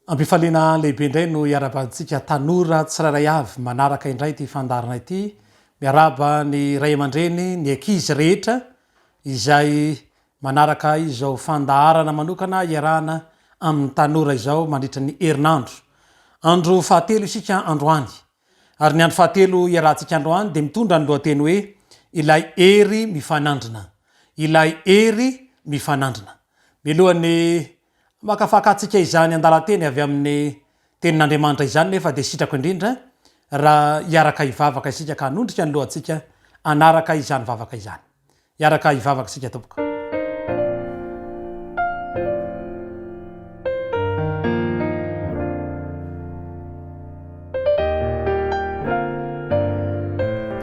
Ampifaliana lehibe indray no iarabantsika tanora tsirairay avy manaraka indray ity fandarana ity. Miaraba ny ray aman-dreny, ny ankizy rehetra izay manaraka izao fandaharana manokana iarahana amin'ny tanora izao mandritra ny herinandro. Andro fahatelo isika androany Ary ny andro fahatelo iarahantsika androany dia mitondra ny lohateny hoe Ilay Hery Mifanandrina. Ilay Hery Mifanandrina. Mialohan'ny hamakafakatsika izany andalan-teny avy amin'ny Tenin'Andriamanitra izany nefa dia sitrako indrindra raha hiaraka hivavaka isika ka hanondrika ny lohantsika hanaraka izany vavaka izany. Hiaraka hivavaka isika tompoko.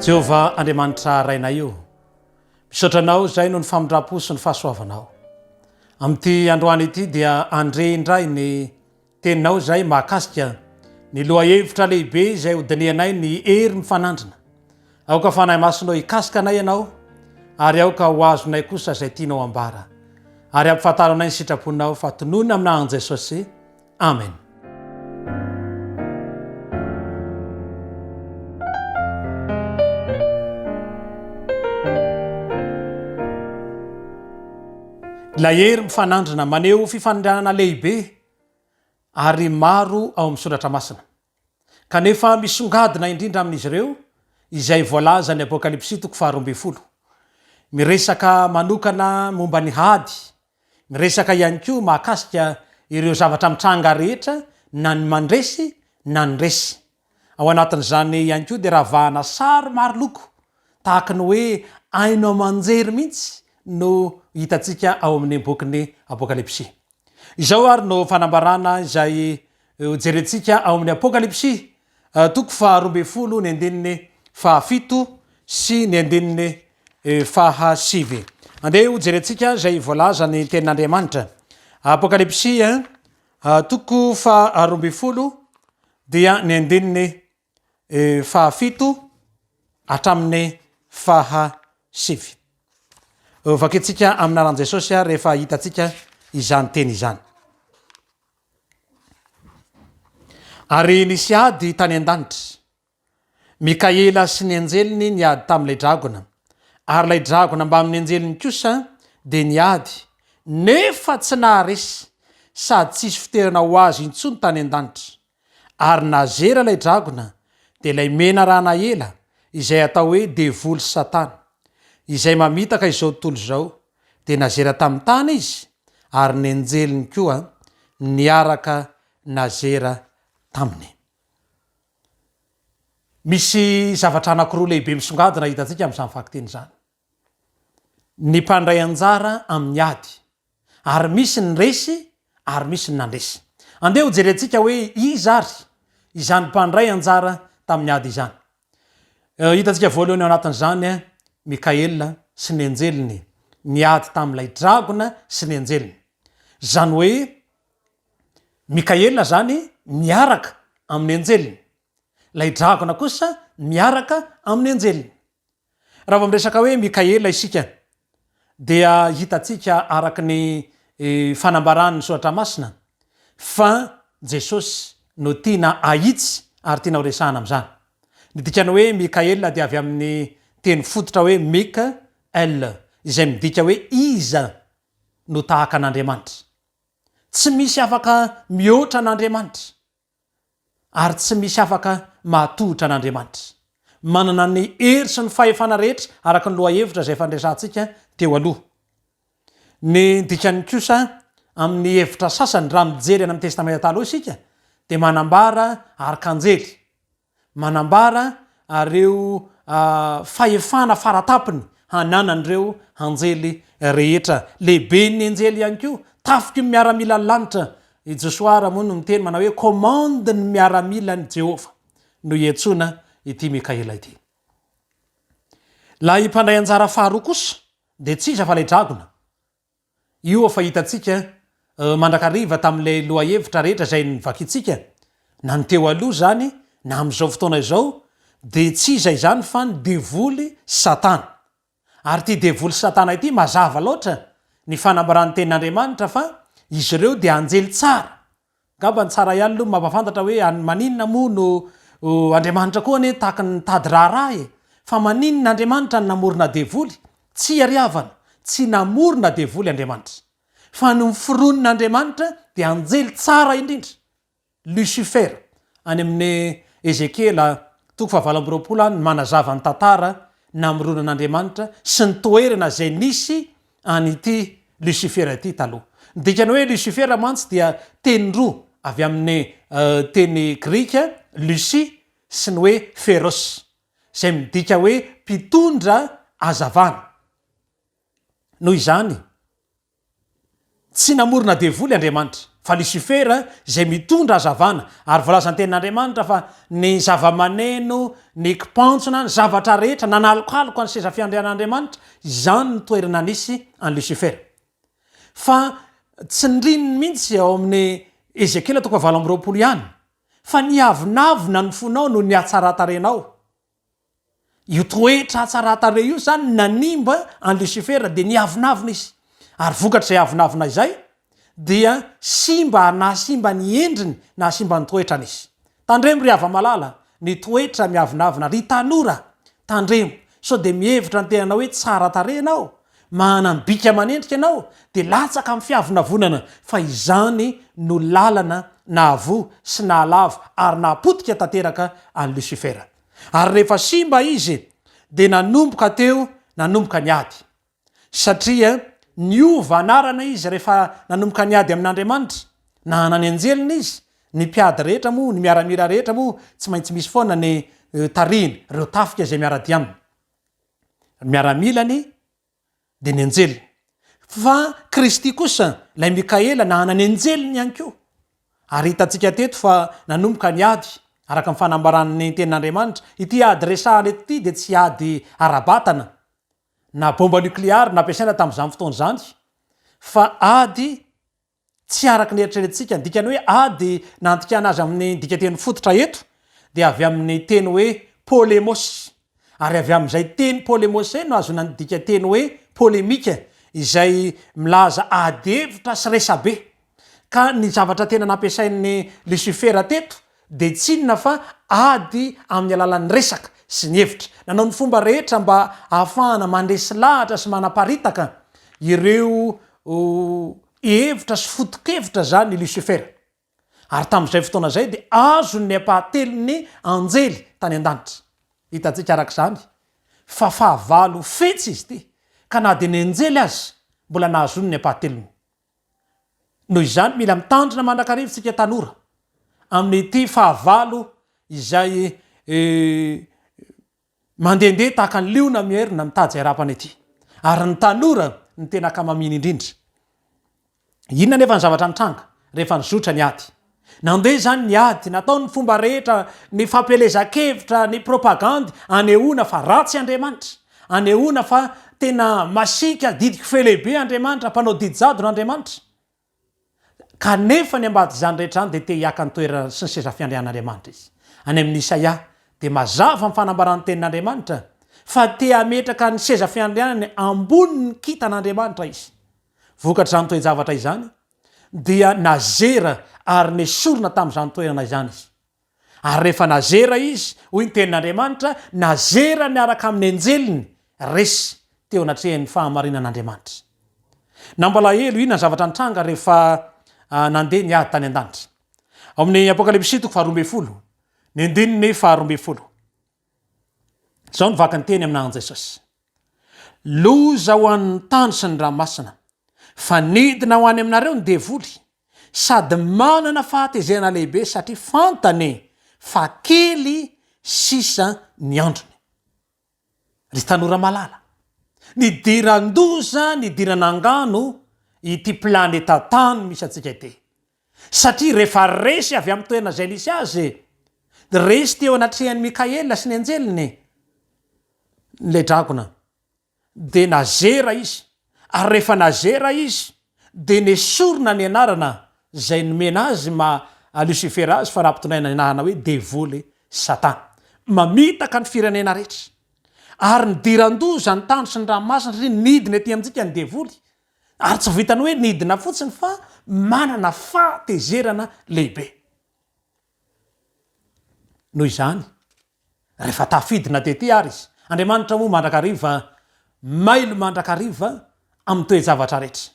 Jehovah Andriamanitra Rainay o, misaotra Anao izay noho ny famindram-po sy ny fahasoavanao. Amin'ity androany ity dia andre indray ny Teninao izay mahakasika ny lohahevitra lehibe izay hodinihanay ny hery mifanandrina. Aoka Fanahy Masinao hikasika anay Ianao ary aoka ho azonay kosa izay tianao hambara. Ary ampifantaro anay ny sitraponao fa tonony aminà an'i Jesosy. Amen. Ilay hery mifanandrina maneho fifanindranana lehibe ary maro ao amin'ny Soratra Masina, kanefa misongadina indrindra amin'izy ireo izay voalazan'ny Apokalypsy toko faharoa ambin'ny folo. Miresaka manokana momba ny hady, miresaka ihany koa mahakasika ireo zavatra mitranga rehetra na ny mandresy na ny resy. Ao anatin'izany ihany koa dia ravahana sary maro loko tahaka ny hoe haino aman-jery mihitsy no hitantsika ao amin'ny bokin'ny Apokalypsy. Izao ary no fanambarana izay hojerentsika ao amin'ny Apokalypsy, toko faharoa ambin'ny folo ny andininy fahafito sy ny andininy fahasivy. Andeha hojerentsika izay voalazan'ny tenin'Andriamanitra. Apokalypsy, toko faharoa ambin'ny folo dia ny andininy fahafito hatramin'ny faha sivy. Vakintsika amin'ny anaran'i Jesosy ary rehefa hitantsika izany teny izany. Ary nisy ady tany an-danitra. Mikaela sy ny anjeliny niady tamin'ilay dragona. Ary ilay dragona mbamin'ny anjeliny kosa dia niady nefa tsy naharesy sady tsisy fiterana ho azy intsony tany an-danitra. ary nazera ilay dragona dia ilay menarana ela izay atao hoe devoly sy satana izay mamitaka izao tontolo izao dia nazera tamin'ny tany izy ary ny anjeliny koa niaraka nazera taminy. Misy zavatra anankiroa lehibe misongadina hitantsika amin'izany vakiteny izany. ny mpandray anjara amin'ny ady ary misy ny resy ary misy ny nandresy. Andeha ho jerentsika hoe iza ary izany mpandray anjara tamin'ny ady izany. Hitantsika voalohany ao anatin'izany Mikaela sy ny anjeliny niady tamin'ilay dragona sy ny anjeliny. Izany hoe Mikaela izany miaraka amin'ny anjeliny, ilay dragona kosa miaraka amin'ny anjeliny. Raha vao miresaka hoe Mikaela isika dia hitantsika araka ny fanambaran'ny Soratra Masina fa Jesosy no tiana ahitsy ary tiana horesahana amin'izany. Ny dikan'ny hoe Mikaela dia avy amin'ny teny fototra hoe Mik el izay midika hoe iza no tahaka an'Andriamanitra. Tsy misy afaka mihoatra an'Andriamanitra. Ary tsy misy afaka mahatohitra an'Andriamanitra. Manana ny hery sy ny fahefana rehetra araka ny lohahevitra izay efa niresahantsika teo aloha. Ny dikany kosa amin'ny hevitra sasany raha mijery any amin'ny Testamenta Taloha isika dia manambara arkanjely. Manambara reo fahefana faratapony hananan'ireo anjely rehetra. Lehiben'ny anjely ihany koa, tafiky ny miaramilan'ny lanitra. I Josoa ary moa no miteny manao hoe Commande ny miaramilan'i Jehovah no iantsoana ity Mikaela ity. Ilay mpandray anjara faharoa kosa dia tsy iza fa ilay dragona. Io efa hitantsika mandrakariva tamin'ilay lohahevitra rehetra izay novakintsika, na ny teo aloha izany na amin'izao fotoana izao, dia tsy iza izany fa ny devoly Satana. Ary ity devoly Satana ity, mazava loatra ny fanambaran'ny Tenin'Andriamanitra fa izy ireo dia anjely tsara, Ngamba ny tsara ihany aloha ny mampafantatra hoe an maninona moa no Andriamanitra koa anie tahaka ny mitady raharaha e! Fa maninona Andriamanitra no namorona devoly? Tsy iariavana, tsy namorona devoly Andriamanitra. Fa ny miforonina Andriamanitra dia anjely tsara indrindra, Lucifer, any amin'ny Ezekiela toko fahavalo amby roapolo any manazava ny tantara namoronan'Andriamanitra sy ny toerana izay nisy an'ity Lusifera ity taloha. Ny dikany hoe Lusifera mantsy dia teny roa avy amin'ny teny grika Lucy sy ny hoe Pheros, izay midika hoe mpitondra hazavana. Noho izany, Tsy namorona devoly Andriamanitra, fa Lisifera izay mitondra hazavana, ary voalazan'ny Tenin'Andriamanitra fa ny zavamaneno, ny kipantsona, ny zavatra rehetra nanalokaloka ny seza fiandrianan'Andriamanitra, izany no toerana nisy an'i Lisifera. Fa tsindrininy mihitsy ao amin'ny Ezekiela toko fahavalo amby roapolo ihany, fa niavonavona ny fonao noho ny hatsaran-tarehinao. Io toetra hatsaran-tarehy io izany nanimba an'i Losifera dia niavonavona izy. Ary vokatr'izay avonavona izay dia simba ary nahasimba ny endriny, nahasimba ny toetrany izy. Tandremo ry hava-malala ny toetra miavonavona, ry tanora tandremo sao dia mihevitra ny tenanao hoe tsara tarehy ianao Manam-bika manendrika ianao dia latsaka amin'ny fiavonavonana fa izany no lalana nahavoa sy nahalavo ary nahapotika tanteraka an'i Losifera. Ary rehefa simba izy dia nanomboka teo nanomboka ny ady. Satria niova anarana izy rehefa nanomboka niady amin'Andriamanitra, nahana ny anjeliny izy, ny mpiady rehetra moa, ny miaramila rehetra moa tsy maintsy misy foana ny tarihiny, ireo tafika izay miara-dia aminy. ny miaramilany dia ny anjeliny. Fa Kristy kosa, ilay Mikaela, nahana ny anjeliny ihany koa. Ary hitantsika teto fa nanomboka ny ady, araka ny fanambaran'ny tenin'Andriamanitra. Ity ady resahana eto ity dia tsy ady ara-batana, na bomba nokleary nampiasaina tamin'izany fotoana izany, fa ady tsy araka ny eritreretintsika, ny dikany hoe a dia nandikana azy amin'ny dikanteny fototra eto dia avy amin'ny teny hoe polemos ary avy amin'izay teny polemos izay no ahazoana ny dikanteny hoe polemika izay milaza adihevitra sy resabe ka ny zavatra tena nampiasain'i Lucifer teto dia tsy inona fa ady amin'ny alalan'ny resaka sy ny hevitra. Nanao ny fomba rehetra mba hahafahana mandresy lahatra sy manaparitaka ireo hevitra sy foto-kevitra izany i Lucifer. Ary tamin'izay fotoana izay dia azony ny ampahatelon'ny anjely tany an-danitra. Hitantsika araka izany fa fahavalo fetsy izy ity, ka na dia ny anjely aza mbola nahazoany ny ampahatelony. Noho izany, mila mitandrina mandrakariva isika tanora amin'ity fahavalo izay mandehandeha tahaka ny liona mierona mitady izay harapany ity. Ary ny tanora ny tena akamamiany indrindra. Inona anefa ny zavatra mitranga rehefa nizotra ny ady? Nandeha izany ny ady, natao ny fomba rehetra, ny fampielezan-kevitra, ny propagandy, anehoana fa ratsy Andriamanitra, anehoana fa tena masiaka, didiko fe lehibe Andriamanitra, mpanao didy jadona Andriamanitra. Kanefa ny ambadik'izany rehetra izany dia te hiaka ny toerana sy ny seza fiandrianan'Andriamanitra izy. Any amin'ny Isaia, dia mazava ny fanambaran'ny tenin'Andriamanitra, fa te hametraka ny seza fiandrianany ambonin'ny kintan'Andriamanitra izy. Vokatr'izany toe-javatra izany, dia nazera ary nesorina tamin'izany toerana izany izy. Ary rehefa nazera izy, hoy ny tenin'Andriamanitra, nazera miaraka amin'ny anjeliny, resy, teo anatrehan'ny fahamarinan'Andriamanitra. Nampalahelo, inona ny zavatra nitranga rehefa nandeha ny ady tany an-danitra? Ao amin'ny Apokalypsy toko faharoa ambin'ny folo, ny andininy faharoa ambin'ny folo. Izao ny vaky ny teny aminà an'i Jesosy. Loza ho an'ny tany sy ny ranomasina, fa nidina ho any aminareo ny devoly, sady manana fahatezerana lehibe, satria fantany fa kely sisa ny androny. Ry tanora malala, nidiran-doza, nidiran'angano ity planeta tany misy antsika ity. Satria rehefa resy avy amin'ny toerana izay nisy azy, dia resy teo anatrehan'i Mikaela sy ny anjeliny ilay dragona. Dia nazera izy, ary rehefa nazera izy, dia nesorina ny anarana izay nomena azy maha Lucifer azy, fa raha ampitondraina ny anarana hoe devoly, satana. Mamitaka ny firenena rehetra. Ary nidiran-doza ny tany sy ny ranomasina, satria nidina ety amintsika ny devoly, Ary tsy vitan'ny hoe nidina fotsiny fa manana fahatezerana lehibe. Noho izany, rehefa tafidina tety àry izy, Andriamanitra moa mandrakariva, mailo mandrakariva amin'ny toe-javatra rehetra.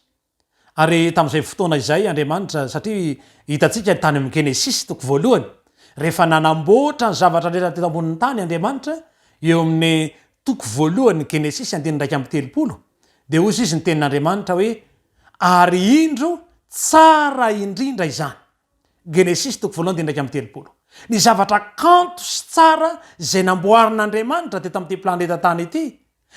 Ary tamin'izay fotoana izay Andriamanitra, satria hitantsika tany amin'ny Genesisy toko voalohany, rehefa nanamboatra ny zavatra rehetra teto ambonin'ny tany Andriamanitra, eo amin'ny Toko voalohany ny Genesisy andininy iraika amby telopolo dia hoy izy ny tenin'Andriamanitra hoe ary indro tsara indrindra izany. Genesisy toko voalohany andininy iraika amby telopolo. Ny zavatra kanto sy tsara izay namboarin'Andriamanitra teto amin'ity planeta tany ity,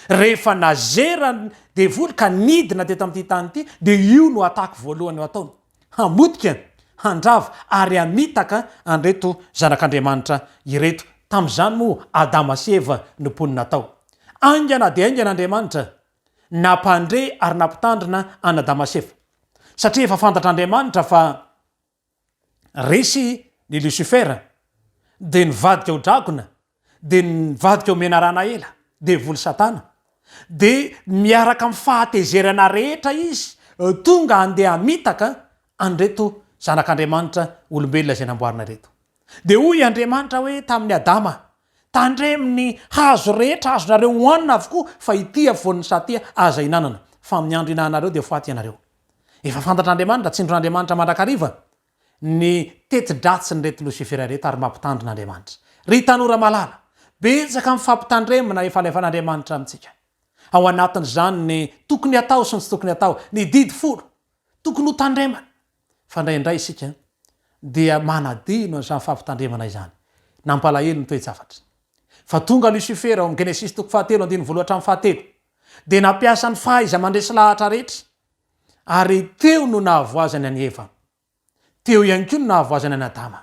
rehefa nazera ny devoly ka nidina teto amin'ity tany ity dia io no attaque voalohany ho ataony. hamotika, handrava ary hamitaka an'ireto zanak'Andriamanitra ireto. Tamin'izany moa Adama sy Eva no mponina tao. Haingana dia haingana Andriamanitra nampandre ary nampitandrina an'Adama sy Eva, satria efa fantatr'Andriamanitra fa resy ny Lucifer dia nivadika ho dragona, dia ny mivadika ho menarana ela, devoly satana, dia miaraka amin'ny fahatezerana rehetra izy tonga handeha hamitaka an'ireto zanak'Andriamanitra olombelona izay namboarina ireto. Dia hoy Andriamanitra hoe tamin'i Adama, tandremo ny hazo rehetra azonareo hohanina avokoa fa ity afovoan'ny satia aza hihinanana, fa amin'ny andro ihinananareo dia ho faty ianareo. Efa fantatr'Andriamanitra, tsindron'Andriamanitra mandrakariva ny teti-dratsin'ireto Losifera ireto ary mampitandrina Andriamanitra. Ry tanora malala, betsaka ny fampitandremana efa alefan'Andriamanitra amintsika. Ao anatin'izany ny tokony hatao sy ny tsy tokony hatao, ny didy folo tokony ho tandremana. Fa indraindray isika dia manadino an'izany fampitandremana izany. Nampalahelo ny toe-javatra. Fa tonga Losifera ao amin'ny Genesisy toko fahatelo andininy voalohany hatramin'ny fahatelo. Dia nampiasa ny fahaiza-mandresy lahatra rehetra. ary teo no nahavoazany an'i Eva. Teo ihany koa no nahavoazany an'i Adama.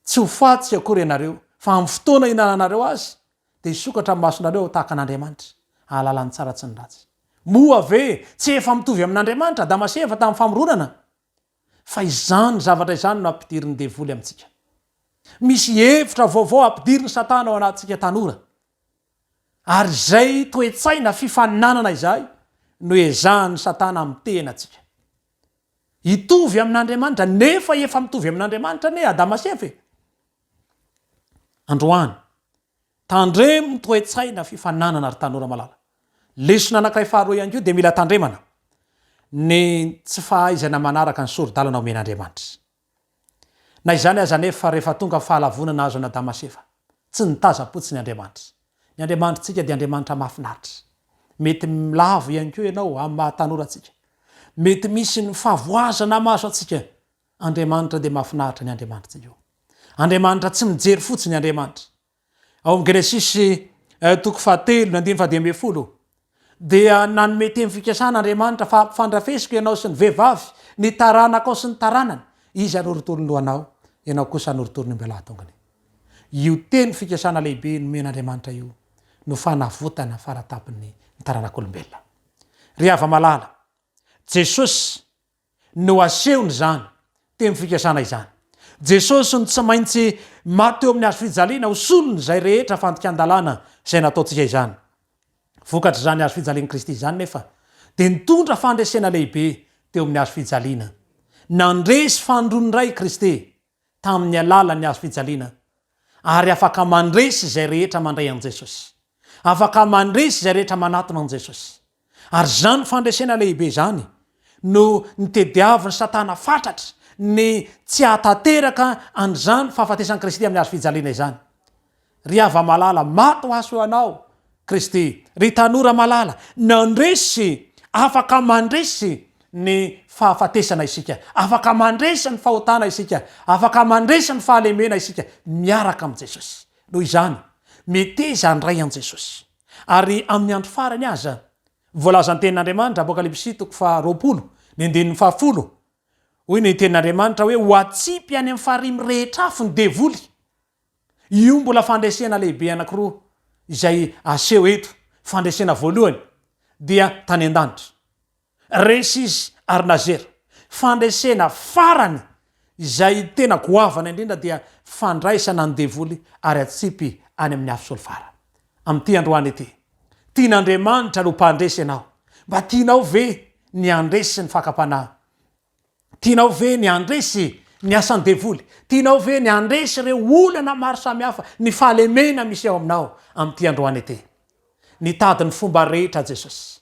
Tsy ho faty akory ianareo, fa amin'ny fotoana hihinananareo azy, dia hisokatra ny masonareo ho tahaka an'Andriamanitra, hahalala ny tsara sy ny ratsy. Moa ve tsy efa mitovy amin'Andriamanitra Adama sy Eva tamin'ny famoronana? Fa izany zavatra izany no ampidirin'ny devoly amintsika. Misy hevitra vaovao ampidirin'i Satana ao anatintsika tanora. Ary izay toe-tsaina fifaninanana izay no ezahan'i Satana amin'ny tenantsika. Hitovy amin'Andriamanitra, nefa efa mitovy amin'Andriamanitra anie Adama sy Eva e! Androany, tandremo ny toe-tsaina fifaninanana ry tanora malala. Lesona anankiray faharoa ihany koa dia mila tandremana ny tsy fahaizana manaraka ny sori-dalana omen'Andriamanitra. Na izany aza anefa, rehefa tonga fahalavonana azo an'Adama sy Eva, tsy nitazam-potsiny Andriamanitra. Ny Andriamanitrtsika dia Andriamanitra mahafinaritra. Mety lavo ihany koa ianao amin'ny maha tanora antsika. Mety misy ny fahavoazana maso antsika. Andriamanitra dia mahafinaritra ny Andriamanitsikao. Andriamanitra tsy mijery fotsiny Andriamanitra. Ao amin'ny Genesisy toko fahatelo ny andininy fahadimy ambin'ny folo dia nanome teny fikasana Andriamanitra fa hampifandrafesiko ianao sy ny vehivavy ny taranakao sy ny taranany, izy hanorotoro ny lohanao, ianao kosa hanorotoro ny ombelà tongony. Io teny fikasana lehibe nomen'Andriamanitra io no fanavotana fara tampony ny taranak'olombelona. Ry hava-malala, Jesosy, no asehony izany teny fikasana izany. Jesosy no tsy maintsy maty eo amin'ny hazo fijaliana ho solon' izay rehetra fandikan-dalàna izay nataontsika izany. Vokatr' izany hazo fijalian'i Kristy izany nefa dia nitondra fandresena lehibe teo amin'ny hazo fijaliana. Nandresy fandroana iray i Kristy tamin'ny alalan'ny hazo fijaliana ary afaka mandresy izay rehetra mandray an'i Jesosy. Afaka mandresy izay rehetra manatona an'i Jesosy. Ary izany fandresena lehibe izany no nitediavin'i Satana fatratra ny tsy hahatanteraka an'izany fahafatesan'i Kristy amin'ny hazo fijaliana izany. Ry hava malala, maty ho aso ianao, Kristy. Ry tanora malala, nandresy, afaka mandresy ny fahafatesana isika, afaka mandresy ny fahotana isika, afaka mandresy ny fahalemena isika miaraka amin'i Jesosy. Noho izany, meteza handray an'i Jesosy. Ary amin'ny andro farany aza, voalaza ny tenin'Andriamanitra, Apokalypsy toko faharoapolo, ny andininy fahafolo, hoy ny tenin'Andriamanitra hoe, Ho atsipy any amin'ny farihy mirehitra afo ny devoly, Io mbola fandresena lehibe anankiroa izay aseho eto, fandresena voalohany dia tany an-danitra, resy izy ary nazera, fandresena farany izay tena goavana indrindra dia fandraisana ny devoly ary atsipy any amin'ny afo solfara. Amin'ity androany ity, tian'Andriamanitra ny ho mpandresy ianao, mba tianao ve ny handresy ny fakam-panahy Tianao ve ny handresy ny asan'ny devoly? Tianao ve ny handresy ireo olana maro samihafa ny fahalemena misy eo aminao amin'ity androany ity? Nitady ny fomba rehetra Jesosy.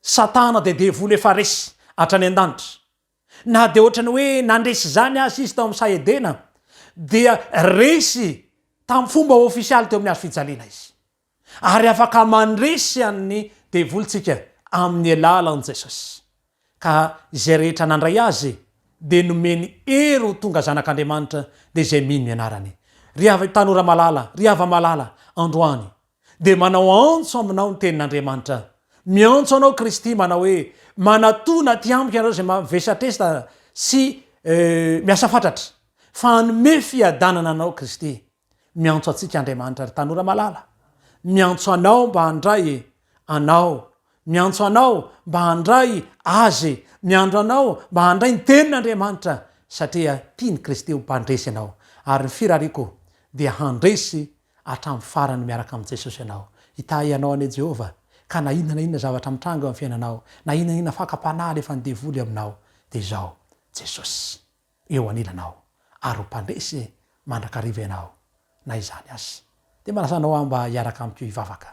Satana dia devoly efa resy hatrany an-danitra. Na dia ohatran'ny hoe nandresy izany aza izy tao amin'ny saha Edena dia resy tamin'ny fomba ofisialy teo amin'ny hazo fijaliana izy. ary afaka mandresy an'ny devoly tsika amin'ny alalan'i Jesosy, ka izay rehetra nandray Azy dia nomeny hery ho tonga zanak'Andriamanitra dia izay mino ny anarany. Ry havy tanora malala, ry hava malala, androany dia manao antso aminao ny tenin'Andriamanitra, miantso anao Kristy manao hoe, manatona aty amiko ianareo izay mavesatresda sy miasa fatratra, fa hanome fiadanana anao Kristy. Miantso antsika Andriamanitra ry tanora malala, miantso anao mba handray e, anao, miantso anao mba handray Azy e, miandro anao mba handray ny tenin' Andriamanitra satria tia ny Kristy ho mpandresy ianao ary ny firariako dia handresy hatramin'ny farany miaraka amin'i Jesosy ianao. Hitahy anao anie Jehovah ka na inona na inona zavatra mitranga eo amin'ny fiainanao, na inona na inona fakam-panahy alefan'ny devoly aminao dia izao Jesosy. eo anilanao ary ho mpandresy mandrakariva ianao na izany aza. Dia manasa anao aho mba hiaraka amiko hivavaka.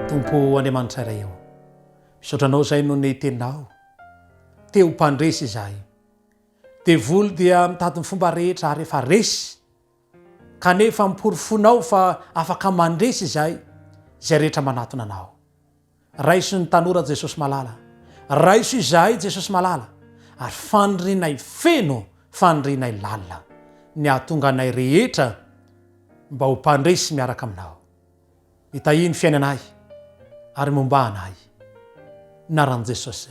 Tompo Andriamanitra iray eo, misaotra anao izay noho ny teninao. Te ho mpandresy izahay. Devoly dia mitady ny fomba rehetra ary efa resy. Kanefa amporofoinao fa afaka mandresy izay izay rehetra manatona anao. Raiso ny tanora Jesosy malala. Raiso izahay Jesosy malala ary fanirianay feno fanirianay lalina ny hahatonga anay rehetra mba ho mpandresy miaraka aminao. Mitahia ny fiainanay ary mombà anay. Naran'i Jesosy.